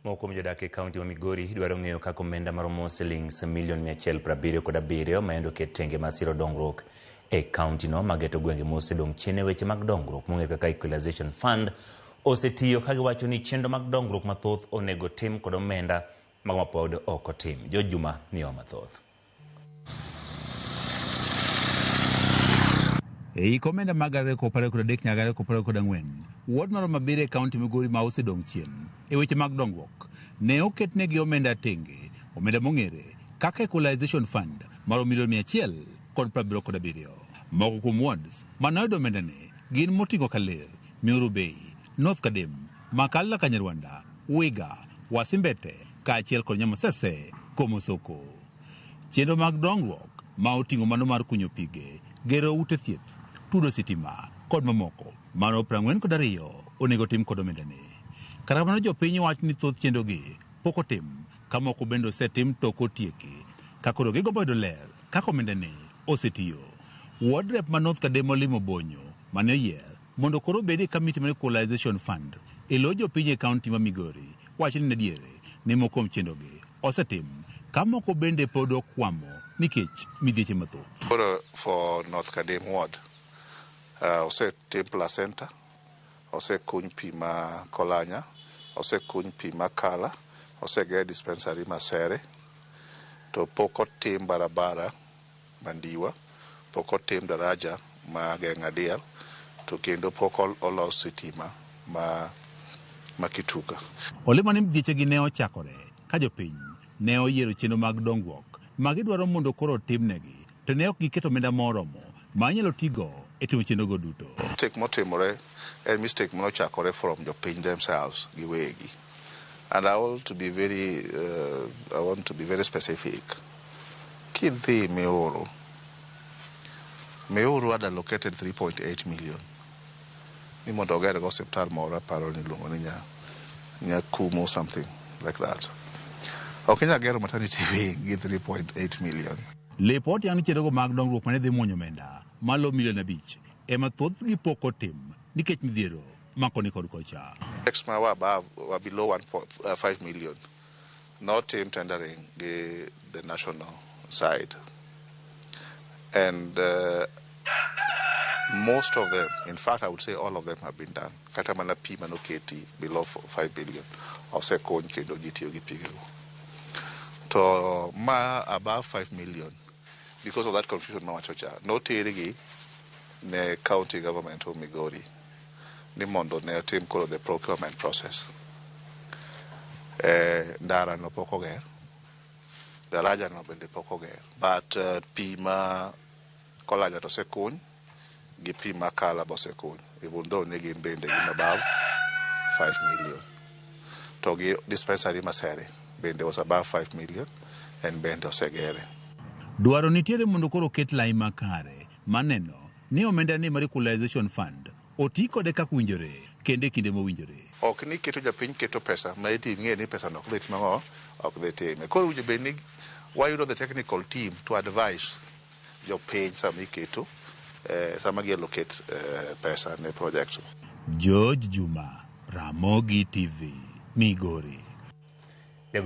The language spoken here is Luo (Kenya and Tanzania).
Moko kuom jodak e kaunti ma Migori dwaro ng'eyo kaka omenda maromo silings milion 177 ma yande oket tenge ma siro dongruok e kauntino ma geto gwenge mosedong' chien e weche mag dongruok mong'e kaka Equalization Fund osetiyo ka giwacho ni chenro mag dongruok mathoth onego tim kod omenda mago mapod ok otim. Jo Juma miyowa mathoth. E hik omenda mag gana ariyo kod apar kod adek nyaka gana ariyo kod apar kod ang'wen, ward maromo abiriyo e kaunti Migori ma osedong' chien e weche mag dongruok ne oketnegi omenda tenge, omenda mong'ere kaka Equalization Fund maromo milion mia achiel kod piero abiriyo kod abiriyo. Moko kuom wards mane oyudo omendani gin Motingo Kaler, Nyoro Bay, North Kadem, Makalla Kanyarwanda, Wiga, Wasimbete, kaachiel kod Nyamosese, Komosoko. Chenro mag dongruok ma oting'o mano mar kunyo pige, gero ute thieth, tudo sitima kod mamoko maromo piero ang'wen kod ariyo onego otim kod omendani. Kata kamano jopiny wacho ni thoth chenrogi pok otim ka moko bende osetim to ok otieki ka koro gigombo yudo ler kaka omendani osetiyo. Ward Rep ma North Kadem Olim Obonyo mane oyier Mondo koro obed e Committee mar Equalization Fund e lo jopiny e County ma Migori, wacho ni en adier ni moko kuom chenrogi osetim ka moko bende pod okwamo nikech midhieche mathoth. Koro for North Kadim Ward, osetim placenta, osekuny pi ma Kolanya, osekuny pi ma Kala, oseger dispensary Masere to pok otim barabara. mandiwa, pok otim daraja ma geng'a diel to kendo pok olos sitima ma Kituka. Olemo ni mgechegi ne ochakore ka jopiny ne oyiero chenro mag dongruok ma gidwaro mondo koro otimnegi to ne ok giketo omenda ma oromo ma inyalo ti go e timo chenro go duto. Mistake motimore en mistake mane ochakore from jopiny themselves giwegi. And I want to be very, uh, I want to be very specific. Kidhi Meoro, Meoro had allocated 3.8 million. Ni mondo oger go hospital moro aparo ni luongo ni nya Nyakumo something like that. Ok inyal gero maternity wing gi 3.8 million. Lipot yango ni chenrogo mag dongruok mane dhi mwonyo omenda malo milion abich ema thothgi pok otim nikech midhiero. mako ni kod kocha. Projects ma wa above wa below 1.5 million notim tendering gi the national side and uh, most of them in fact I would say all of them have been done kata mana pi manoketi below 5 billion osekony kendo ji tiyo gi pigego to ma above 5 million because of that confusion mawacho cha notergi ne county government of Migori ni mondo ne otim koro the procurement process. Eh, ndara no pok oger, daraja no bende pok oger, but uh, pi ma Kolaja to osekuny gi pi ma Kala be osekuny, even though ne gin bende gin above 5 million. To gi dispensary ma Sere bende was above 5 million and bende osegere. Dwaro nitiere mondo koro oket lai makare. mar neno ni omenda ni mar Equalization Fund oti kode kaka owinjore kendo e kinde mowinjore. Ok ni iketo japiny keto pesa ma eti ing'e ni pesano ok dhi timo ang'o, ok dhi time. Koro owinjo bed ni wayudo the technical team to advise jopiny sama iketo, sama gi allocate pesa ne projects. George Juma, Ramogi TV, Migori.